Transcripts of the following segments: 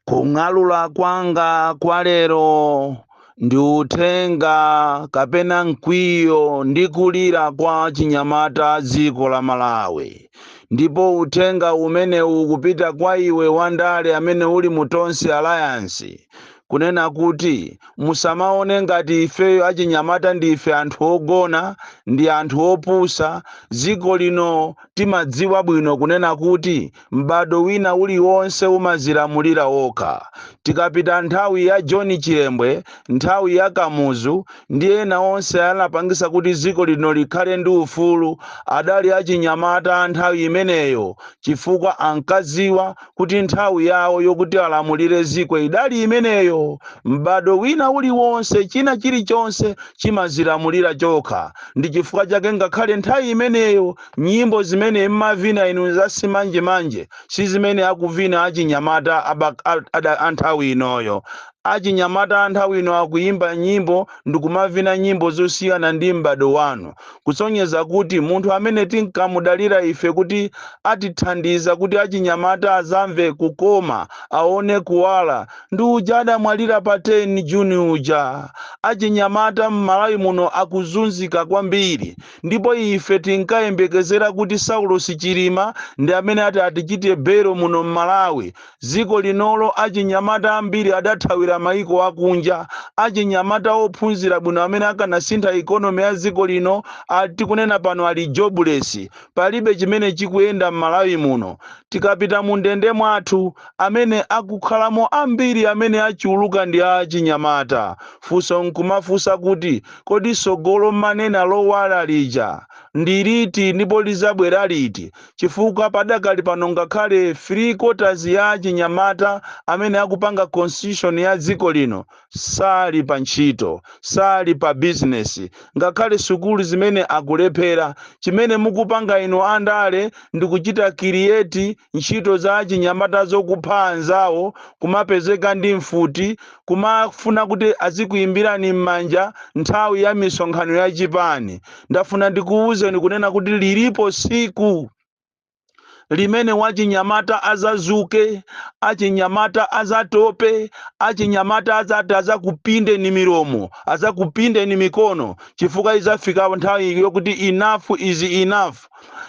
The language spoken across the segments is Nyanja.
kung'alula kwanga kwa lero ndi uthenga kapena mkwiyo ndi kulira kwa achinyamata a dziko la malawi ndipo uthenga umenewu ukupita kwa iwe wandale amene uli mu tonse alliance kunena kuti musamaone ngati ifeyo achinyamata ndife anthu ogona ndi anthu opusa dziko lino timadziwa bwino kunena kuti M'bado wina uliwonse umazilamulira wokha. Tikapita nthawi ya John Chilembwe, nthawi ya Kamuzu ndi ena onse anapangisa kuti dziko lino likhale ndi ufulu adali achinyamata a nthawi imeneyo chifukwa ankadziwa kuti nthawi yawo yokuti alamulire dziko idali imeneyo. M'bado wina uliwonse china chilichonse chimazilamulira chokha ndi chifukwa chake ngakhale nthawi imeneyo Nyimbo zimene mmavina inu za simanjemanje sizimene akuvina achinyamata a anthawi inoyo. Achinyamata anthawi ino akuyimba nyimbo ndikumavina nyimbo zosiyana ndi m'bado wanu. Kusonyeza kuti munthu amene tinkamudalira ife kuti atithandiza kuti achinyamata azamve kukoma, aone kuwala ndi uja adamwalira pa 10 June uja. Achinyamata mmalawi muno akuzunzika kwambiri. ndipo ife tinkayembekezera kuti Saulos Chilima ndi amene ati atichite bail out muno m'Malawi. Dziko linolo achinyamata ambiri adathawira maiko akunja. Achinyamata ophunzira bwino amene akanasintha economy ya dziko lino a tikunena pano ali jobless. Palibe chimene chikuyenda m'Malawi muno. Tikapita mundende mwathu, amene akukhalamo ambiri amene achuluka ndi achinyamata. Funso n'kumafunsa kuti. Kodi tsogolo mumanena lowala lija ndi liti ndipo lizabwera liti chifukwa padakali pano ngakhale 3 quarters ya achinyamata amene akupanga constitution ya dziko lino sali pa ntchito, sali pa business ngakhale sukulu zimene akulephera. Chimene mukupanga inu andale ndikuchita create ntchito za achinyamata zokupha anzawo, kumapezeka ndi mfuti, kumafuna kuti azikuimbirani m'manja nthawi ya misonkhano ya chipani ndafuna ndikuwuzeni kunena kuti lilipo siku limene wachinyamata azazuke achinyamata azatope achinyamata azati azakupindeni milomo azakupindeni mikono chifukwa izafika nthawi yokuti enough is enough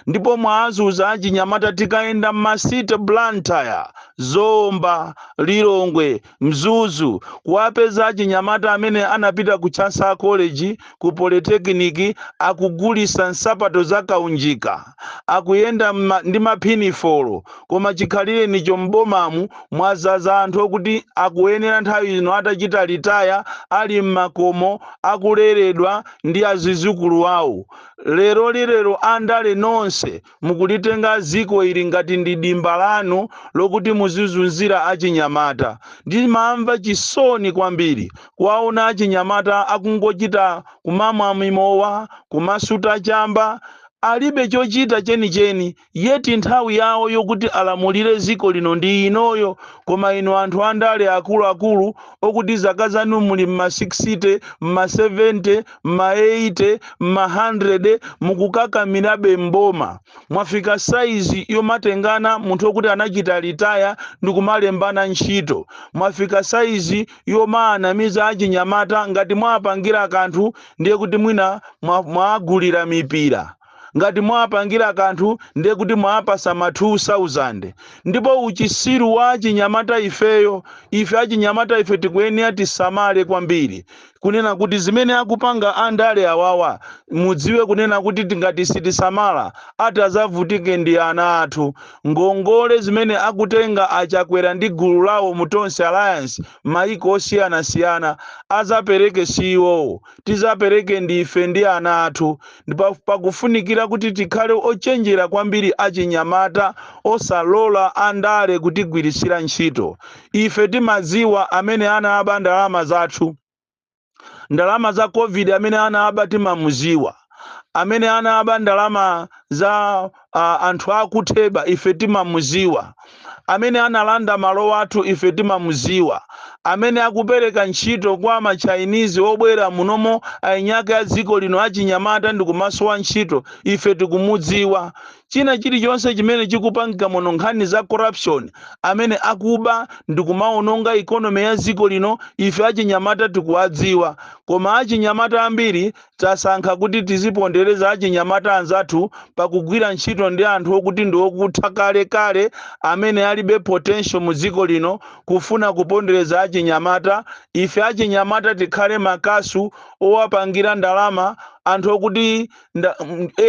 ndipo mwawazunza achinyamata tikayenda m'ma city blantyre zomba lilongwe Mzuzu, Kuwapeza achinyamata amene anapita ku Chancellor College, ku Polytechnic akugulisa nsapato za kaunjika, akuyenda ndi ma pinifolo koma chikhalirenicho m'bomamu mwadzaza anthu okuti akuyenera nthawi ino atachita litaya ali mmakomo akuleredwa ndi adzukulu awo. Lerolilero andale nonse Mukulitenga dziko ili ngati ndi dimba lanu lokuti muzizunzira achinyamata. Ndimamva chisoni kwambiri kuwaona achinyamata akungochita kumamwa mimowa, kumasuta chamba, alibe chochita chenicheni yet nthawi yawo yokuti alamulire dziko lino ndi inoyo koma inu anthu andale akuluakulu okuti zaka zanu muli mma 60 mma 70 mma 80 mma 100 mukukakamirabe mboma mwafika saizi yomatengana munthu okuti anachita litaya ndikumalembana ntchito mwafika saizi yomaanamiza achinyamata ngati mwapangira kanthu ndiye kuti mwina mwaagulira mipira Ngati mwawapangira kanthu ndiye kuti mwawapatsa ma 2000 ndipo uchisiru wa achinyamata ifeyo ife achinyamata ife tikuyenera tisamale kwambiri kunena kuti zimene akupanga andale awawa mudziwe kunena kuti tingati sitisamala atadzavutike ndi ana athu ngongole zimene akutenga a Chakwera ndi gulu lawo mu Tonse Alliance mayiko osiyanasiyana adzapereke si iwowo tidzapereke ndife ndi ana athu, ndipo pakufunikira kuti tikhale ochenjera kwambiri achinyamata osalola andale kutigwiritsira ntchito. Ife timadziwa amene anaba ndalama zathu. Ndalama za covid amene anaba timamudziwa. amene anaba ndalama za uh, anthu akutheba ife timamuziwa amene analanda malo athu ife timamuziwa amene akupereka ntchito kwa machainizi obwera munomo eniake a dziko lino achinyamata ndi kumasowa ntchito ife tikumudziwa china chilichonse chimene chikupangika muno nkhani za corruption amene akuba ndi kumaononga ikonomi ya dziko lino ife achinyamata tikuwadziwa koma achinyamata ambiri Tasankha kuti tizipondereza achinyamata anzathu pakugwira ntchito ndi anthu okuti ndi okutha kale kale amene alibe potential mu dziko lino kufuna kupondereza achinyamata ife achinyamata tikhale makasu owapangira ndalama anthu okuti nda,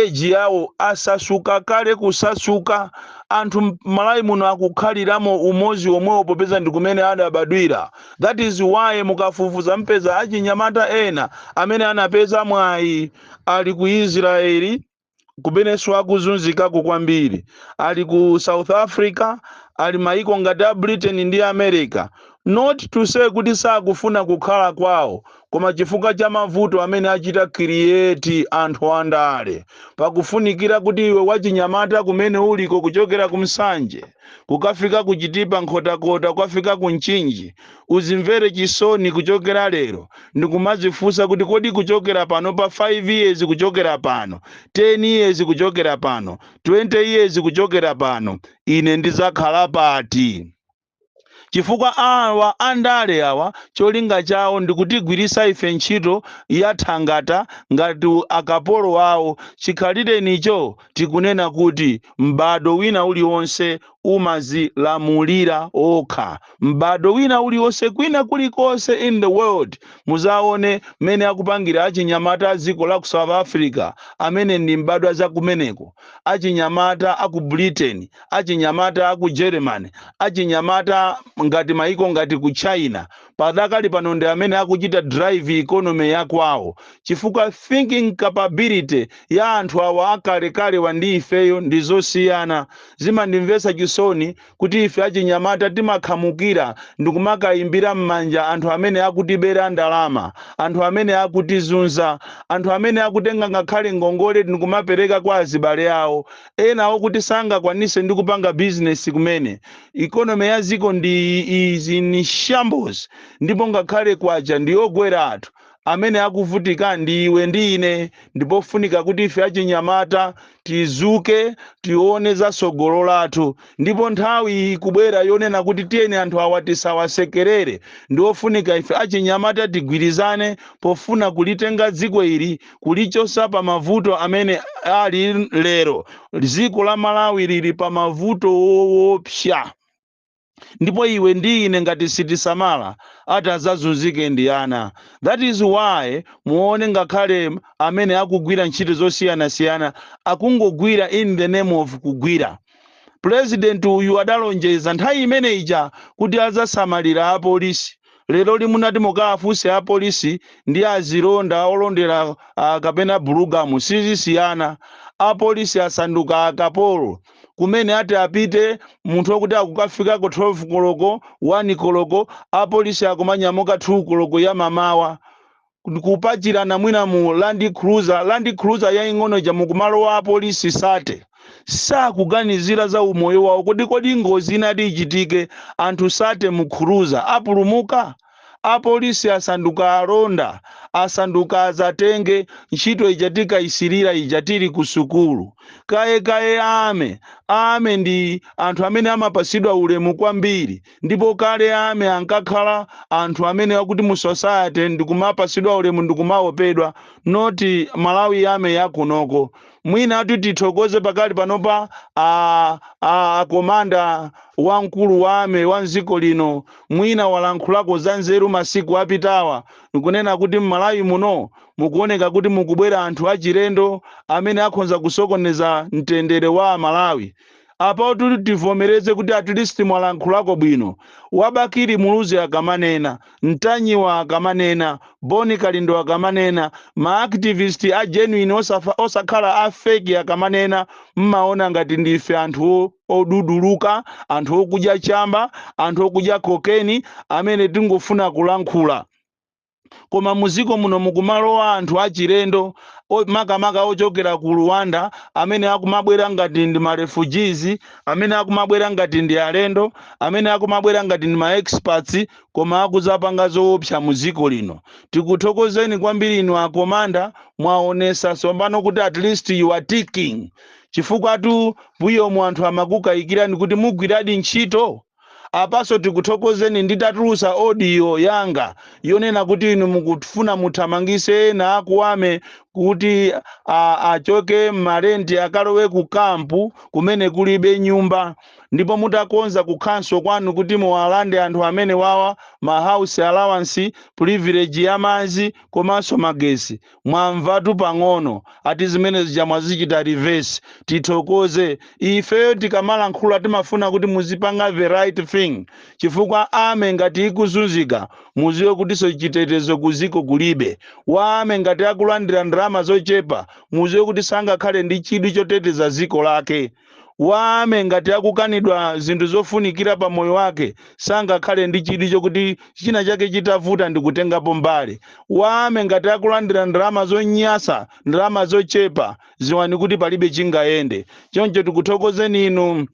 age yawo anasasuka kale kusasuka anthu Malawi muno akukhaliramo umodzi omwewo popeza ndikumene adabadwira. That is why mukafufuza mpeza achinyamata ena amene anapeza mwayi ali ku Israel kumeneso akuzunzikako kwambiri, ali ku South Africa, ali mayiko ngati a Britain ndi America, not to say kuti sakufuna kukhala kwawo koma chifukwa cha mavuto amene achita create anthu andale. Pakufunikira kuti iwe wachinyamata kumene uliko kuchokera ku Nsanje, kukafika ku Chitipa, Nkhotakota, kukafika ku Mchinji, udzimvere chisoni kuchokera lero ndikumadzifunsa kuti kodi kuchokera panopa 5 years kuchokera pano, 10 years kuchokera pano, 20 years kuchokera pano, ine ndidzakhala pati? chifukwa awa andale awa cholinga chawo ndikutigwiritsa ife ntchito ya thangata ngati akapolo awo chikhalirenicho tikunena kuti m'badwo wina uliwonse umazilamulira okha m'badwo wina uliwonse kwina kulikonse in the world muzaone mmene akupangira achinyamata dziko la ku south africa amene ndi mbadwa za kumeneko achinyamata a ku britain achinyamata a ku germany achinyamata ngati maiko ngati ku china padakali pano ndi amene akuchita drive economy ya kwawo chifukwa thinking capability ya anthu awa akalekalewa ndi ifeyo ndi zosiyana. Zimandimvetsa chisoni kuti ife achinyamata timakhamukira ndikumakaimbira mmanja anthu amene akutibera ndalama, anthu amene akutizunza, anthu amene akutenga ngakhale ngongole ndikumapereka kwa azibale awo, ena okuti sangakwanise ndi kupanga business kumene. Economy ya dziko lino is in shambles ndipo ngakhale kwacha ndi yogweratu. Amene akuvutika ndi iwe ndi ine. Ndipofunika kuti ife achinyamata tidzuke tione za tsogolo lathu. Ndipo nthawi ikubwera yonena kuti tiyeni anthu awa tisawasekerere. Ndiofunika ife achinyamata tigwirizane pofuna kulitenga dziko ili kulichosa pa mavuto amene ali lero dziko la malawi lili pa mavuto woopsa ndipo iwe ndi ine ngati sitisamala ati azazunzike ndi ana that is why muone ngakhale amene akugwira ntchito zosiyanasiyana akungogwira in the name of kugwira pulezidenti uyu adalonjeza nthawi imene ija kuti azasamalira apolisi lero limunati mukawafunse apolisi ndi azilonda olondera kapena bulugamu sizisiyana apolisi asanduka akapolo kumene ati apite munthu okuti akukafikako 12 koloko 1 koloko apolisi akumanyamuka 2 koloko ya mamawa kupachikana mwina mu land cruiser land cruiser yaing'ono ija mukumalowa apolisi thirty sakuganizira za umoyo wawo kodi kodi ngozi itati ichitike anthu thirty mu cruiser apulumuka apolisi asanduka alonda asanduka azatenge ntchito ija tikayisirira ija tili ku sukulu kalekale a army a army ndi anthu amene amapasidwa ulemu kwambiri Ndipo kale a army ankakhala anthu amene akuti mu society ndikumapasidwa ulemu ndikumaopedwa not Malawi army yakunoko. Mwina tithokoze pakali panopa a a a komanda wamkulu wa army wa mziko lino mwina walankhulako za nzeru masiku apitawa nkunena kuti m'Malawi muno mukuoneka kuti mukubwera anthu achilendo amene akhonza kusokoneza mtendere wa a Malawi. Apatu tivomereze kuti at least mwalankhulako bwino. A Bakili Muluzi akamanena, Ntanyiwa akamanena, Bon Kalindo akamanena, ma activist a genuine osakha, osakhala a fake akamanena, mmaona ngati ndife anthu oduduluka, anthu okudya chamba, anthu okudya cocaine amene tingofuna kulankhula. koma mu ziko muno mukumalowa anthu achilendo o- makamaka ochokera ku Rwanda amene akumabwera ngati ndi ma refugees amene akumabwera ngati ndi alendo amene akumabwera ngati ndi ma experts koma akuzapanga zoopsa mu dziko lino tikuthokozeni kwambiri inu akomanda mwaonesa tsopano kuti at least you are ticking chifukwa tu mbuyomu anthu amakukayikirani kuti mugwiradi ntchito Apanso tikuthokozeni nditatulutsa audio yanga yonena kuti inu mukufuna muthamangise ena a ku army kuti a achoke mma rent akalowe ku camp kumene kulibe nyumba ndipo mutakonza kukhonsolo kwanu kuti muwalande anthu amenewawa ma house allowance, privilege ya madzi komanso magetsi. Mwamvatu pang'ono ati zinthu zija mwazichita reverse. Tithokoze. Ifeyo tikamalankhula timafuna kuti muzipanga the right thing chifukwa army ngati ikuzunzika muziwe kutiso chitetezo ku ziko kulibe. Wa army ngati akulandira ndalama zochepa muziwe kuti sangakhale ndi chidwi choteteza ziko lake. Wa army ngati akukanidwa zinthu zofunikira pa moyo wake sangakhale ndi chidwi chokuti china chake chitavuta ndikutengapo mbali. Wa army ngati akulandira ndalama zonyasa, ndalama zochepa, ziwani kuti palibe chingayende. Choncho tikuthokozeni inu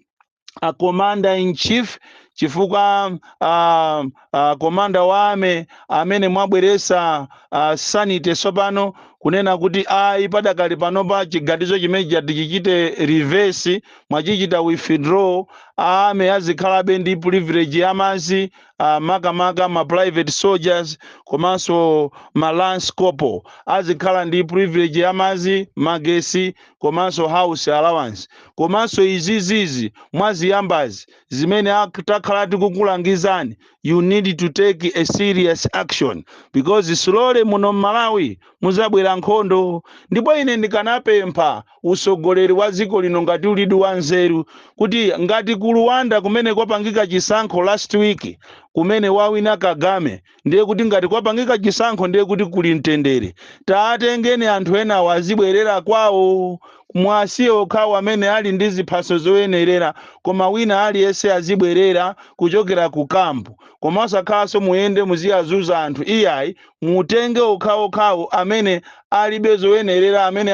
a Commander in Chief chifukwa a. uh, komanda wa army amene mwabweresa uh, sinthani tsopano kunena kuti ayi padakali panopa chiganizo chimene chati chichite reverse mwachichita withdraw army azikhalabe ndi privilege ya madzi uh, makamaka ma private soldiers komanso ma lance corporal azikhala ndi privilege ya madzi magesi komanso house allowance komanso izizizi mwaziyambazi zimene ak- takhala tikukulangizani you need to take a serious action because slowly muno mmalawi mudzabwera nkhondo ndipo ine ndikanapempha usogoleri wa dziko lino ngati ulidi wa nzeru kuti ngati ku rwanda kumene kwapangika chisankho last week kumene wawina kagame ndiye kuti ngati kwapangika chisankho ndiye kuti kuli mtendere taatengeni anthu enawo azibwerera kwawo muwasiye okhawo amene ali ndi ziphaso zoyenerera koma wina aliyense azibwerera kuchokera ku kampu koma osakhalanso muyende muziyazuza anthu iyayi mutenge okhaokhawo amene alibe zoyenerera amene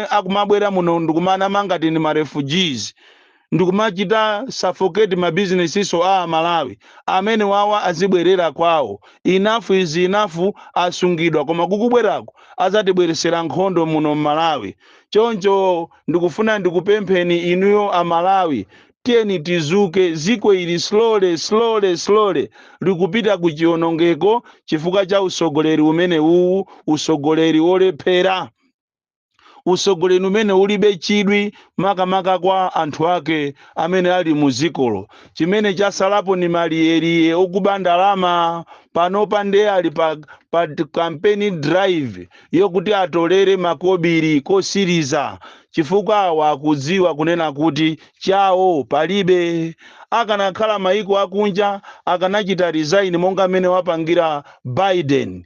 akumabwera muno ndikumanama ngati ndi marefugees ndikumachita suffocate ma businesses a amalawi amenewawa azibwerera kwawo enough is enough asungidwa koma kukubwerako azatibweresera nkhondo muno mmalawi choncho ndikufuna ndikupempheni inuyo amalawi tiyeni tizuke ziko ili slowly slowly slowly likupita ku chionongeko chifukwa cha usogoleri umenewuwu usogoleri olephera utsogoleri umene ulibe chidwi makamaka kwa anthu ake amene ali mu dzikolo chimene chasalapo ni maliyeliye okuba ndalama panopa nde ali pa, pa campaign drive yokuti atolere makobiri kosiriza chifukwa awa akudziwa kunena kuti chawo palibe akanakhala maiko akunja akanachita resign monga mmene wapangira biden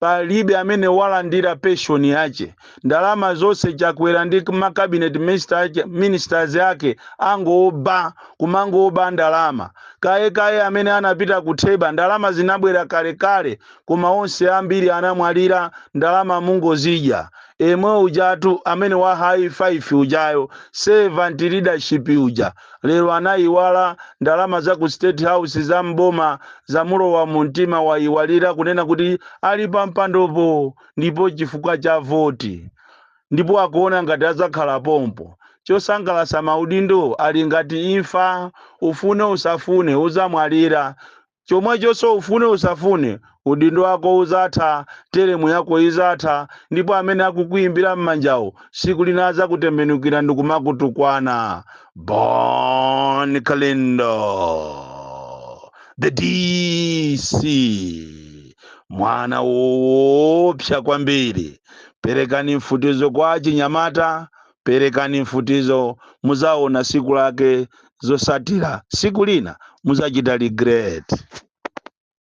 palibe amene walandira pension yache ndalama zonse chakwera ndi ma cabinet minister ake- ministers ake angoba kumangoba ndalama kaye kaye amene anapita kutheba ndalama zinabwera kalekale koma onse ambiri anamwalira ndalama mungozidya yemwe ujatu amene wa high five ujayo servant leadership uja Lero anayiwala ndalama za ku state house za m'boma zamulowa mumtima wayiwalira kunena kuti ali pampandopo ndi chifukwa cha voti ndipo akuona ngati adzakhala pompo. Chosangalasa maudindo ali ngati imfa ufune usafune udzamwalira Chomwechonso ufune usafune, udindo wako uzatha, telemu yako izatha, ndipo amene akukuimbira mmanjawo siku lina azakutembenukira ndikumakutukwana. Bon Kalindo the DC mwana woopsa kwambiri. Perekani mfutizo kwa achinyamata, perekani mfutizo, muzaona siku lake zotsatira siku lina muzachita regret.